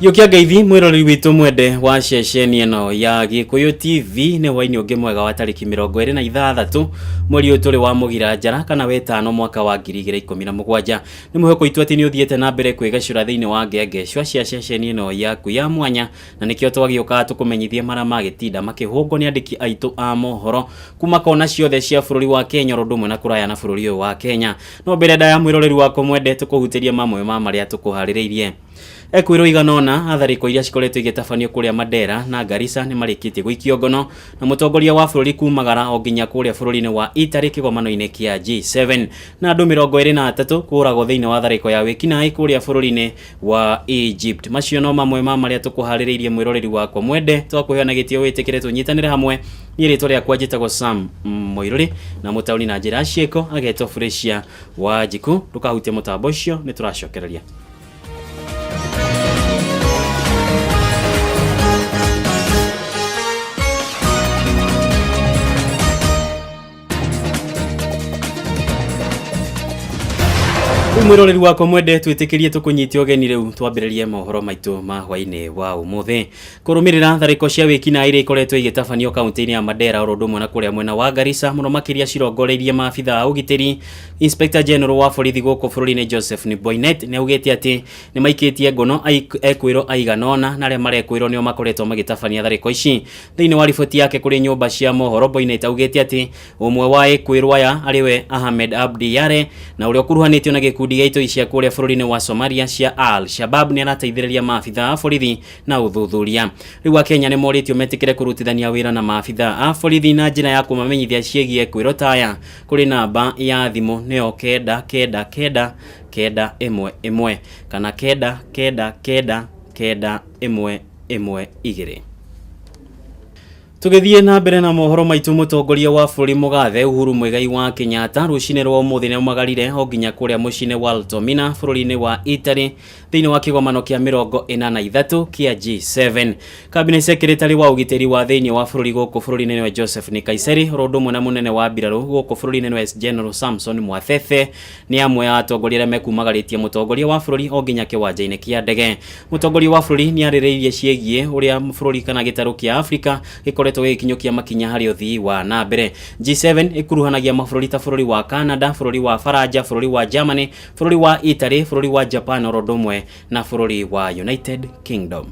Yukia Ngeithi mwirori witũ mwende wa ceceni ĩno ya Gĩkũyũ TV nĩ hwainĩ ũngĩ mwega wa tarĩki mĩrongo ĩrĩ na ithathatũ mweri ũyũ tũrĩ wa mũgira njara kana wetano mwaka wa ngiri igĩrĩ ikũmi na mũgwanja nĩ mwĩhoko witũ atĩ nĩ ũthiĩte na mbere kwĩgacũra thĩinĩ wa ngengecua cia ceceni ĩno yaku ya mwanya na nĩkĩo twagĩũkaga tũkũmenyithie marĩa magĩtinda makĩhũngwo nĩ andĩki aitũ a mohoro kuma kona ciothe cia bũrũri wa Kenya oro ũndũ ũmwe na kũraya na bũrũri ũyũ wa Kenya no mbere ndaya mwĩroreri wakwa mwende tũkũhutĩrie mamwe ma marĩa tũkũharĩrĩirie Ekwĩrwo igana ũna a tharĩko iria cikoretwo igĩtabanio kũrĩa Mandera na Garissa nĩ marĩkĩtie gũikio ngono na mũtongoria wa bũrũri kumagara o nginya kũrĩa bũrũri-inĩ wa Italy kĩgomano-inĩ kĩa G7 na andũ mĩrongo ĩrĩ na atatũ kũragwo thĩinĩ wa tharĩko ya wĩkinaĩ kũrĩa bũrũri-inĩ wa Egypt. Macio no mamwe ma marĩa tũkũharĩrĩirie mwĩroreri wakwa mwende twakũheo na gĩtĩo wĩtĩkĩre tũnyitanĩre hamwe niĩ rĩtwa rĩakwa njĩtagwo Sam Moirũrĩ na mũtaũni na njĩra ya ciĩko agetwo Felicia Wanjiku ndũkahutie mũtambo ũcio nĩ tũracokereria. mwiroreri wakwa mwende twitikirie tukunyite ugeni riu twambiririe mohoro maitu ma hwaini wa umuthi Kũrũmĩrĩra tharĩko cia wĩkinaĩ iria ikoretwo igĩtabanio kaunti-inĩ ya Mandera oro ũndũ ũmwe na kũrĩa mwena wa Garissa mũno makĩria cirongoreirie maabitha a ũgitĩri, Inspector General wa borithi gũkũ bũrũri-inĩ Joseph Boinnet nĩ augĩte atĩ nĩ maikĩtie ngono ekwĩrwo aigana ũna na arĩa marekwĩrwo nĩo makoretwo magĩtabania tharĩko ici. Thĩinĩ wa riboti yake kũrĩ nyũmba cia mohoro, Boinnet augĩte atĩ Ũmwe wa ĩkwĩrwo aya arĩ we Ahmed Abdi Yare na ũrĩa ũkuruhanĩtio na gĩkundi gĩa itoi cia kũrĩa bũrũri-inĩ wa Somalia cia Al Shabab nĩ arateithĩrĩria maabitha a borithi na ũthuthuria. Rĩu Akenya nĩ morĩtio metĩkĩre kũrutithania wĩra na maabitha a borithi na njĩra ya kũmamenyithia ciĩgiĩ ĩkwĩrwo ta aya kũrĩ namba ya thimũ nĩyo kenda kenda kenda kenda ĩmwe ĩmwe kana kenda kenda kenda kenda ĩmwe ĩmwe igĩrĩ. Tũgĩthiĩ na mbere na mohoro maitũ, mũtongoria wa bũrũri mũgathe Uhuru Muigai wa Kenyatta rũcinĩ rwa ũmũthĩ nĩ aumagarire o nginya kũrĩa mũciĩ-inĩ wa Altomina bũrũri-inĩ wa Italy thĩinĩ wa kĩgomano kĩa mĩrongo ĩna na ithatũ kĩa G7. Kabine sekretari wa ũgitĩri wa thĩinĩ wa bũrũri gũkũ bũrũri-inĩ nĩwe Joseph Nkaissery oro ũndũ ũmwe na mũnene wa mbirarũ gũkũ bũrũri-inĩ nĩwe General Samson Mwathethe Nĩ amwe a atongoria arĩa mekumagarĩtie mũtongoria wa bũrũri o nginya kĩwanja-inĩ kĩa ndege. Mũtongoria wa bũrũri nĩ arĩrĩirie ciĩgiĩ ũrĩa bũrũri kana gĩtarũ kĩa Afrika gĩkoretwo gĩgĩkinyũkia makinya harĩ ũthii wa na mbere. G7 ĩkuruhanagia mabũrũri ta bũrũri wa Canada, bũrũri wa Faranja, bũrũri wa Germany, bũrũri wa Italy, bũrũri wa Japan oro ũndũ ũmwe na bũrũri wa United Kingdom.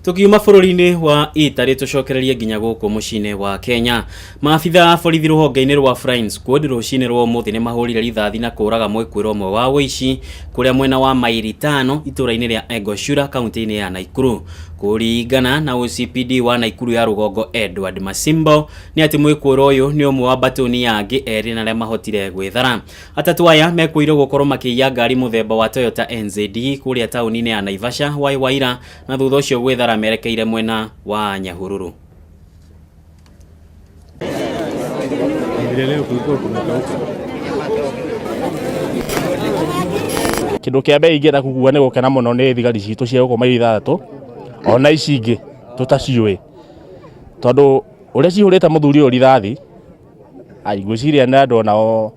tukiuma bũrũri-inĩ wa Italy tũcokererie nginya gũkũ mũciĩ-inĩ wa Kenya Maabitha a borithi rũhonge-inĩ rwa Flines Code rũcinĩ rwa ũmũthĩ nĩ mahũrire rithathi na kũũraga mwĩkũĩrwo ũmwe wa ũici kũrĩa mwena wa mairi tano itũũra-inĩ rĩa Engoshura kaunti-inĩ ya Naikuru. Kũringana na OCPD wa Naikuru ya rũgongo Edward Masimbo nĩ atĩ mwĩkũĩrwo ũyũ nĩ ũmwe wa mbatũni ya angĩ erĩ na arĩa mahotire gwĩthara. Atatũ aya mekũirwo gũkorwo makĩiya ngari mũthemba wa Toyota NZD kũrĩa taũni-inĩ ya Naivasha hwaĩ wa ira na thutha ũcio gwĩthara merekeire mwena wa Nyahururu. Kĩndũ kĩa mbere ingĩenda kuga nĩ gũkena mũno nĩ thigari citũ cia gũkũ maili ithathatũ ona ici ingĩ tũtaciũĩ, tondũ ũrĩa cihũrĩte mũthuri ũyũ rithathi, ai ngwĩciria nĩ andũ onao...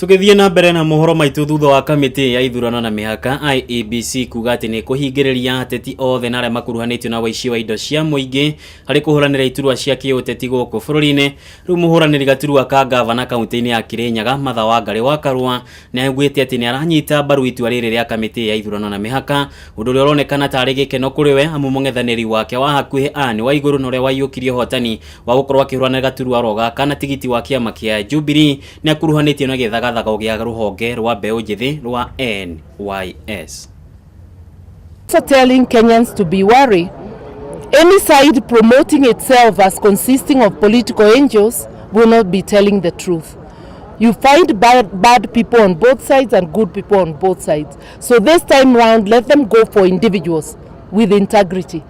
tũgĩthiĩ na mbere na mohoro maitũ thutha wa kamĩtĩ ya ithurano na mĩhaka IEBC kuga atĩ nĩ kũhingĩrĩria ateti othe na arĩa makuruhanĩtio na waici wa indo cia mũingĩ harĩ kũhũranĩra iturwa cia kĩũteti gũkũ bũrũri-inĩ rĩu mũhũranĩri gaturwa ka ngavana kaunti-inĩ ya Kĩrĩnyaga Martha Wangari wa Karũa nĩ augĩte atĩ nĩ aranyita mbaru itua rĩrĩ rĩa kamĩtĩ ya ithurano na mĩhaka ũndũ ũrĩa ũronekana tarĩ gĩkeno kũrĩ we amu mũng'ethanĩri wake wa hakuhĩ Anne Waigũrũ na ũrĩa waiyũkirie ũhotani wa gũkorwo akĩhũranĩra gaturwa oro gaka na tigiti wa kĩama kĩa Jubilee nĩ akuruhanĩtio na gĩthagathago gĩa rũhonge rwa mbeũ njĩthĩ rwa NYS. also telling Kenyans to be wary. Any side promoting itself as consisting of political angels will not be telling the truth. You find bad, bad people on both sides and good people on both sides. So this time round, let them go for individuals with integrity.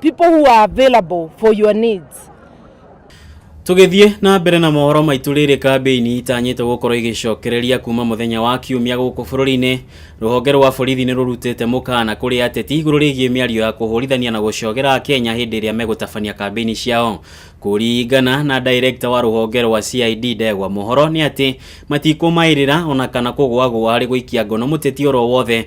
people who are available for your needs. tũgĩthiĩ na mbere na mohoro maitũ rĩrĩ kambĩini itanyĩte gũkorwo igĩcokereria kuma mũthenya wa kiumia gũkũ bũrũri-inĩ rũhonge rwa borithi nĩ rũrutĩte mũkaana kũrĩ ateti igũrũ rĩgiĩ mĩario ya kũhũrithania na gũcogera akenya hĩndĩ ĩrĩa megũtabania kambĩini ciao kũringana na director wa rũhonge rwa cid ndegwa mohoro nĩ atĩ matikũmaĩrĩra ona kana kũgwagũa harĩ gũikia ngono mũteti oro wothe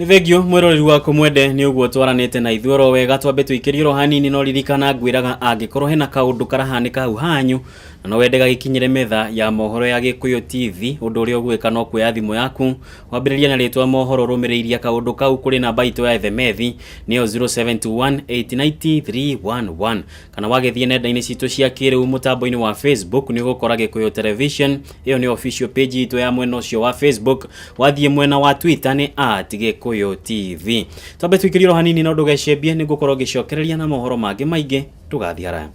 nĩ thengio mwĩroreri waku mwende nĩ ũguo twaranĩte na ithuĩ oro wega twambe tũikĩrie oro hanini no ririkana ngwĩraga angĩkorwo hena kaũndũ karahanĩka hau hanyu na no wende gagĩkinyĩre metha ya mohoro ya gĩkũyũ tv ũndũ ũrĩa ũgwĩka no kuoya thimũ yaku wambĩrĩria na rĩtwa mohoro rũmĩrĩirie kaũndũ kau kũrĩ namba itũ ya ethemethi nĩyo 0721890311 kana wagĩthiĩ nenda-inĩ citũ cia kĩrĩu mũtambo-inĩ wa facebook nĩ ũgũkora gĩkũyũ television ĩyo nĩ official page itũ ya mwena ũcio wa facebook wathiĩ mwena wa twitter nĩ at gĩkũyũ tv twambe tũikĩrie ro hanini no ndũgecembie nĩ ngũkorwo ngĩcokereria na mohoro mangĩ maingĩ ndũgathiĩ haraya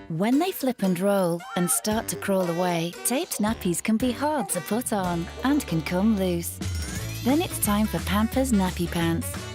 When they flip and roll and start to crawl away, taped nappies can be hard to put on and can come loose. Then it's time for Pampers Nappy Pants.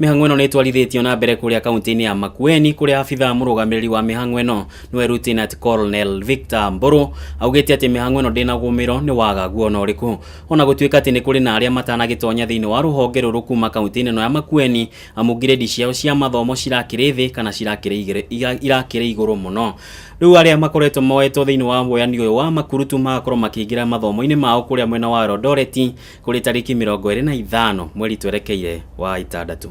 Mĩhang'o ĩno nĩ ĩtwarithĩtio na mbere kũrĩa kaunti-inĩ ya Makueni kũrĩa abithaa mũrũgamĩrĩri wa mĩhang'o ĩno nĩwe Lieutenant Colonel Victor Mbũrũ augĩte atĩ mĩhang'o ĩno ndĩnagũmĩrwo nĩ wagagu ona ũrĩkũ ona gũtuĩka atĩ nĩ kũrĩ na arĩa matanagĩtonya thĩinĩ wa rũhonge rũrũ kuma kaunti-inĩ ĩno ya Makueni amu ngirĩndi ciao cia mathomo cirakĩrĩ thĩ kana cirakĩrĩ irakĩrĩ igũrũ mũno rĩu arĩa makoretwo moetwo thĩinĩ wa woyani ũyũ wa makurutu magakorwo makĩingĩra mathomo-inĩ mao kũrĩa mwena wa Eldoret Kũrĩ tarĩki mĩrongo ĩrĩ na ithano mweri twerekeire wa ĩtandatũ.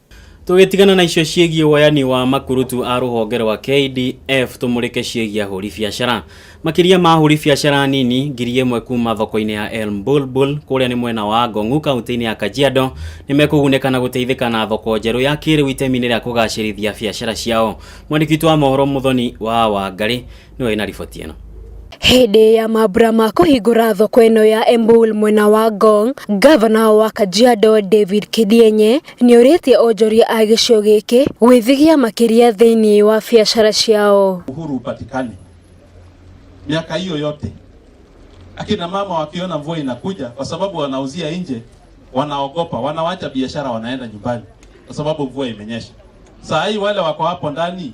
Tũgĩtigana na icio ciĩgiĩ woyani wa makurutu a rũhonge rwa KDF tũmũrĩke ciĩgiĩ ahũri biacara. Makĩria ma ahũri biacara nini ngiri ĩmwe kuma thoko-inĩ ya El Mbulbul kũrĩa nĩ mwena wa Ngong'u kaunti-inĩ ya Kajiado nĩ mekũgunĩka na gũteithĩka na thoko njerũ ya kĩrĩu itemi-inĩ rĩa kũgacĩrithia biacara ciao. Mwandĩki witũ wa mohoro Mũthoni wa Wangarĩ nĩ wĩ na riboti ĩno Hĩndĩ ya mambura ma kũhingũra thoko ĩno ya Embul mwena wa Ngong, gavana wa Kajiado David Kidienye nĩorĩtie onjoria a gĩcigo gĩkĩ gwĩthigia makĩria thĩinĩ wa biacara ciao. uhuru upatikane miaka hiyo yote. Akina mama wakiona mvua inakuja, kwa sababu wanauzia nje, wanaogopa, wanawacha biashara, wanaenda nyumbani kwa sababu mvua imenyesha. Saa hii wale wako hapo ndani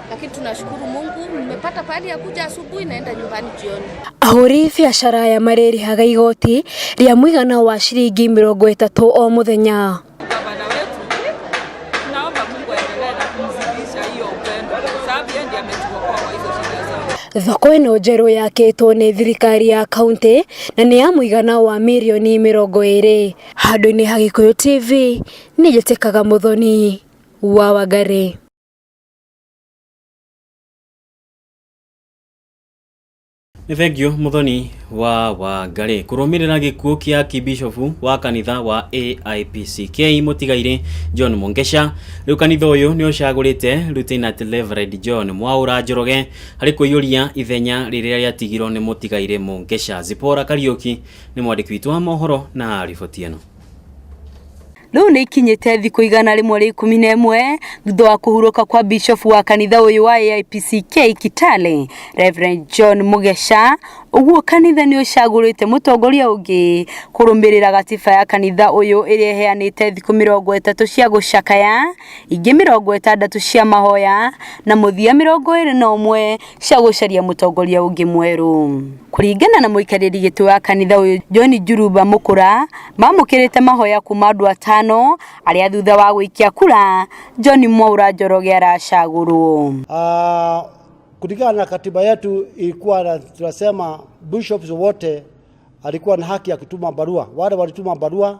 lakini tunashukuru Mungu nimepata pahali ya kuja asubuhi, naenda nyumbani jioni. Ahũri biacara aya marĩrĩhaga igoti rĩa mũigana wa ciringi mĩrongo ĩtatũ o mũthenya. gavana wetu, tunaomba Mungu aendelee na kumzidisha hiyo upendo, sababu yeye ndiye ametuokoa kwa hizo shida zote. Thoko ĩno njerũ yakĩtwo nĩ thirikari ya kaunti na nĩ ya mũigana wa mirioni mĩrongo ĩrĩ. Handũ-inĩ ha Gĩkũyũ TV, nĩ njĩtĩkaga Mũthoni wa Wangari. nĩ thengio mũthoni wa wangarĩ kũrũmĩrĩra gĩkuũ kĩa kibishofu wa kanitha wa AIPCK mũtigairĩ John Mungesha rĩu kanitha ũyũ nĩ ũcagũrĩte Lieutenant Reverend John Mwaũra Njoroge harĩ kũiyũria ithenya rĩrĩa rĩatigirwo nĩ mũtigairĩ Mungesha Zipora Kariuki nĩ mwandĩki witũ wa mohoro na riboti ĩno Rĩu nĩ ikinyĩte thikũ igana rĩmwe rĩa ikũmi na ĩmwe thutha wa kũhurũka kwa bishofu wa kanitha ũyũ wa AIPCK Kitale, Reverend John Mugesha, ũguo kanitha nĩ ũcagũrĩte mũtongoria ũngĩ kũrũmĩrĩra gatiba ya kanitha ũyũ ĩrĩa ĩheanĩte thikũ mĩrongo ĩtatũ cia gũcakaya, ingĩ mĩrongo ĩtandatũ cia mahoya na mũthia mĩrongo ĩrĩ na ũmwe cia gũcaria mũtongoria ũngĩ mwerũ. Kũringana na mũikarĩri gĩtĩ wa kanitha ũyũ John Njuruba Mũkũra, mamũkĩrĩte mahoya kuma andũ atano arĩa thutha wa gũikia kura John Mwaura Njoroge aracagũrwo. Uh, kulingana na katiba yetu ilikuwa na- tunasema bishops wote alikuwa na haki ya kutuma barua. Wale walituma barua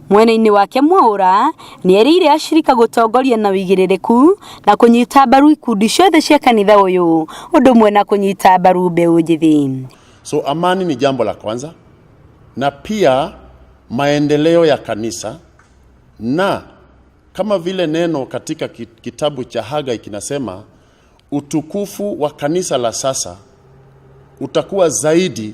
Mwena-inĩ wake Mwaũra nĩerĩire ashirika gũtongoria na ũigĩrĩrĩku na kũnyita mbaru ikundi ciothe cia kanitha ũyũ ũndũ ũmwe na kũnyita mbaru mbeũ njĩthĩ. So amani ni jambo la kwanza na pia maendeleo ya kanisa, na kama vile neno katika ki- kitabu cha Hagai kinasema, utukufu wa kanisa la sasa utakuwa zaidi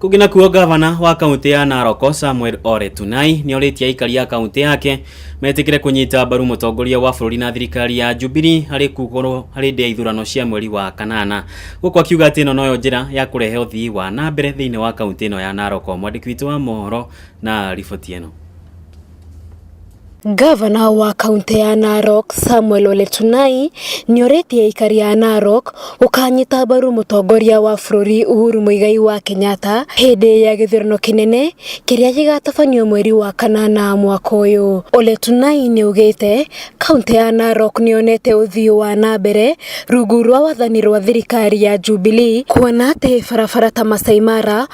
kũngĩ nakuo gavana wa kaunti ya naroko samuel ore tunai nĩ orĩtie aikari a kaunti yake metĩkĩre kũnyita mbaru mũtongoria wa bũrũri na thirikari ya jubili harĩ kugũrũ harĩ ndĩ ya ithurano cia mweri wa kanana gũkũ akiuga atĩ ĩno noyo njĩra ya kũrehe ũthii wa na mbere thĩinĩ wa kaunti ĩno ya naroko mwandĩki witũ wa mohoro na riboti ĩno Ngavana wa kaũntĩ ya Narok Samuel Ole Tunai nĩ orĩtie aikari a Narok gũkanyita mbaru mũtongoria wa bũrũri Uhuru Muigai wa Kenyatta hĩndĩ ya gĩthurano kĩnene kĩrĩa gĩgatabanio mweri wa kanana mwaka ũyũ. Ole Tunai nĩ augĩte kaũntĩ ya Narok nĩ yonete ũthii wa na mbere rungu rwa wathani rwa thirikari ya Jubilee kuona atĩ barabara ta Maasai Mara,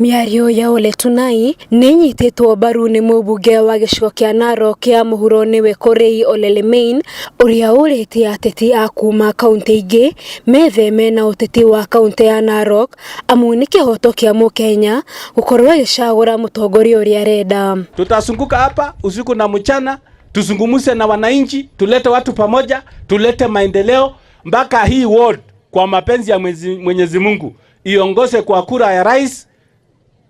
Mĩario ya Ole Tunai nĩnyitĩtwo mbaru nĩ mũmbunge wa gĩcigo kĩa Narok kĩa mũhuro nĩwe Korei Ole Lemein ũrĩa ũrĩtie ateti a kuma kaũntĩ ingĩ metheme na ũteti wa kaũntĩ ya Narok amu nĩ kĩhoto kĩa mũkenya gũkorwo agĩcagũra mũtongoria ũrĩa arenda. Tutazunguka hapa usiku na mchana, tuzungumze na wananchi, tulete watu pamoja, tulete maendeleo mpaka hii ward kwa mapenzi ya Mwenyezi Mungu. iongoze kwa kura ya rais,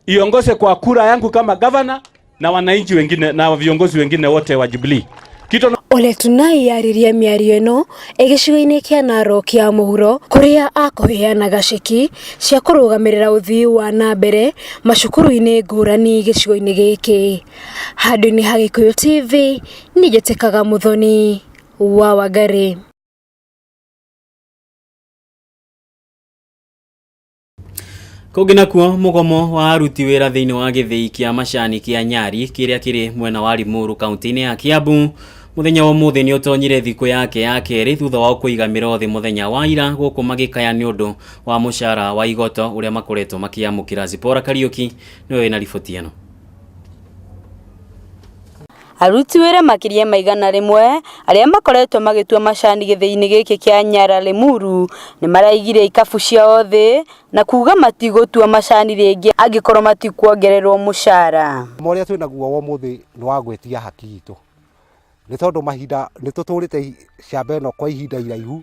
iongoze kwa kura yangu kama gavana na wananchi wengine na viongozi wengine wote wa Jubilee. Kitu na- Ole Tunai yaririe mĩario ĩno ĩ gĩcigo-inĩ kĩa Narok ya mũhuro kũrĩa akũheanaga ceki cia kũrũgamĩrĩra ũthii wa na mbere macukuru-inĩ ngũrani gĩcigo-inĩ gĩkĩ. Handũ-inĩ ha Gĩkũyũ TV nĩ njĩtĩkaga mũthoni wa Wangari. kũngĩ nakuo mũgomo wa aruti wĩra thĩinĩ wa gĩthĩi kĩa macani kĩa nyari kĩrĩa kĩrĩ mwena wa limuru kaunti-inĩ ya kiambu mũthenya wa ũmũthĩ nĩ ũtonyire thikũ yake ya kerĩ thutha wa kũiga mĩrothi mũthenya wa ira gũkũ magĩkaya nĩ ũndũ wa mũcara wa igoto ũrĩa makoretwo makĩamũkĩra zipora kariuki nĩwe wĩna riboti ĩno Aruti wĩra makĩria ma igana rĩmwe arĩa makoretwo magĩtua macani gĩthĩinĩ gĩkĩ kĩa Nyara Limuru nĩmaraigire ikabu ciao thĩ na kuga matigũtua macani rĩngĩ angĩkorwo matikuongererwo mũcara. Ũma ũrĩa twĩ naguo wa ũmũthĩ nĩ wa gwĩtia haki itũ, nĩ tondũ mahinda nĩ tũtũrĩte camba ĩno kwa ihinda iraihu.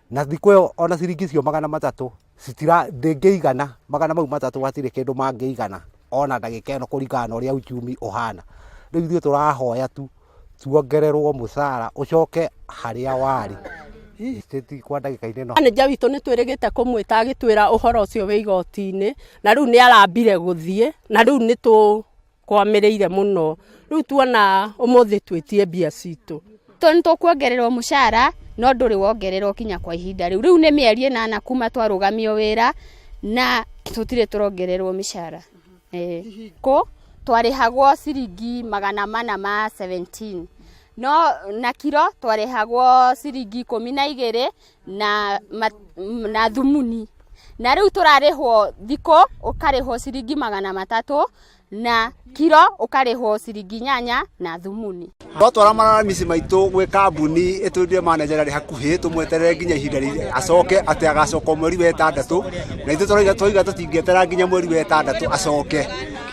na thikå ä yo ona ciringi icio magana matatå ndängä igana magana mau matatå hatirä kä ndå mangä igana ona ndagä ä no kå ringana na å rä a uchumi å hana rä u ithuä tå rahoya tu tuongererwo må cara å coke harä a warä kwa ndagä ka inä no Manĩnja witũ nĩ twĩrĩgĩte kũmwĩta agĩtwĩra ũhoro ũcio wĩ igoti-inĩ na rĩu nĩ arambire gũthiĩ na rĩu nĩ tũ kwamĩrĩire mũno rĩu tuona ũmũthĩ twĩtie mbia citũ tondũ nĩ tũkuongererwo mũcara no ndũrĩ wongererwo kinya kwa ihinda rĩu rĩu nĩ mĩeri ĩnana kuma twarũgamio wĩra na tũtirĩ tũrongererwo mĩcara Ĩĩ. kũ twarĩhagwo ciringi magana mana ma 17 no na kiro twarĩhagwo ciringi ikũmi na igĩrĩ na, ma, na thumuni na rĩu tũrarĩhwo thikũ ũkarĩhwo ciringi magana matatũ na kiro ũkarĩhwo ciringi nyanya na thumuni twatwara mararamisi maitũ gwĩ kambuni ĩtwĩrire manager arĩ hakuhĩ tũmweterere nginya ihinda rĩ- acoke atĩ agacoka mweri wa ĩtandatũ na ithuĩ tũrauga- twauga tũtingĩetera nginya mweri wa ĩtandatũ acoke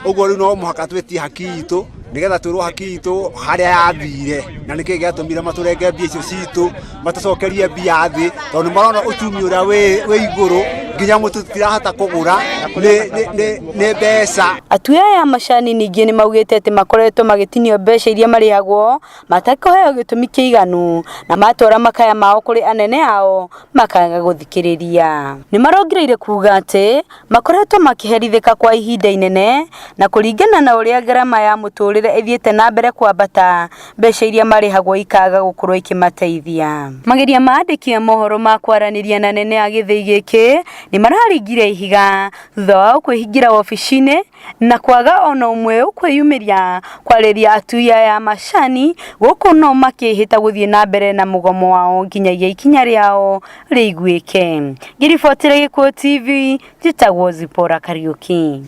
ũguo rĩu no mũhaka twĩtie haki itũ nĩgetha twĩrwo haki itũ harĩa yathire na nĩkĩĩ gĩatũmire matũrenge mbia icio citũ matucokerie mbia thĩ tondũ marona ũtumi ũrĩa wĩ igũrũ nginya mũtu tirahota kũgũra nĩ mbeca atui aya a macani ningĩ nĩ maugĩte atĩ makoretwo magĩtinio mbeca iria marĩhagwo matakũheo gĩtũmi kĩiganu na matwara makaya mao kũrĩ anene ao makaga gũthikĩrĩria nĩ marongereire kuga atĩ makoretwo makĩherithĩka kwa ihinda inene na kũringana na ũrĩa ngarama ya mũtũrĩre ĩthiĩte na mbere kwambata, mbeca iria marĩhagwo ikaga gũkorwo ikĩmateithia. Mageria ma andĩki a mohoro ma kwaranĩria na nene a gĩthĩi gĩkĩ nĩmararingire ihiga thutha wao kwĩhingĩra wobici-inĩ na kwaga ona ũmwe ũkwĩyumĩria kwarĩria atui aya a macani gũkũ no makĩhĩta gũthiĩ na mbere na mũgomo wao nginyagia ikinya rĩao rĩiguĩke. Ngĩribotera Gĩkuũ TV, njĩtagwo Zipora Kariuki.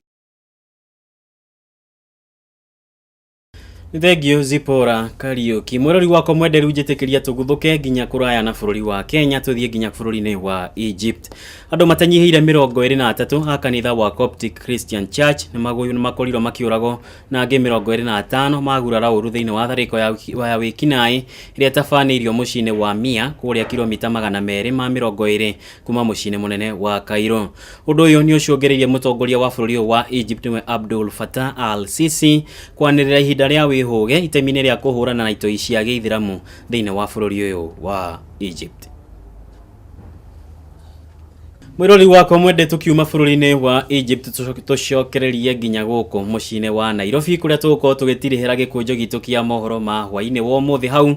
nĩ thengiũ zipora kariũki mwĩrori wakwa mwenderu njĩtĩkĩria tũguthũke nginya kũraya na bũrũri wa kenya tũthiĩ nginya bũrũri-inĩ wa egypt andũ matanyihĩire mĩrongo ĩrĩ na atatũ a kanitha wa coptic christian church nĩ magũyu nĩ makorirwo makĩũragwo na angĩ mĩrongo ĩrĩ na atano magurara ũru thĩinĩ wa tharĩko ya wiki- wa ya wĩkinaĩ ĩrĩa ĩtabanĩirio mũciĩ-inĩ wa mia kũrĩa kilomita magana merĩ ma mĩrongo ĩrĩ kuma mũciĩ-inĩ mũnene wa Cairo. Ũndũ ũyũ nĩ ũcũngĩrĩirie mũtongoria wa bũrũri ũyũ wa Egypt nĩwe Abdul Fattah al-Sisi kwanĩrĩra ihinda rĩa wĩhũge itemi-inĩ rĩa kũhũrana na itoi cia gĩithiramu thĩinĩ wa bũrũri ũyũ wa Egypt. Mwĩrori wakwa mwende tukiuma bũrũri-inĩ wa Egypt tũcokererie nginya gũkũ mũciĩ-inĩ wa Nairobi kũrĩa tũgũkorwo tũgĩtirĩhĩra gĩkũnjo gitũ kĩa mohoro ma hwaĩ-inĩ wa ũmũthĩ hau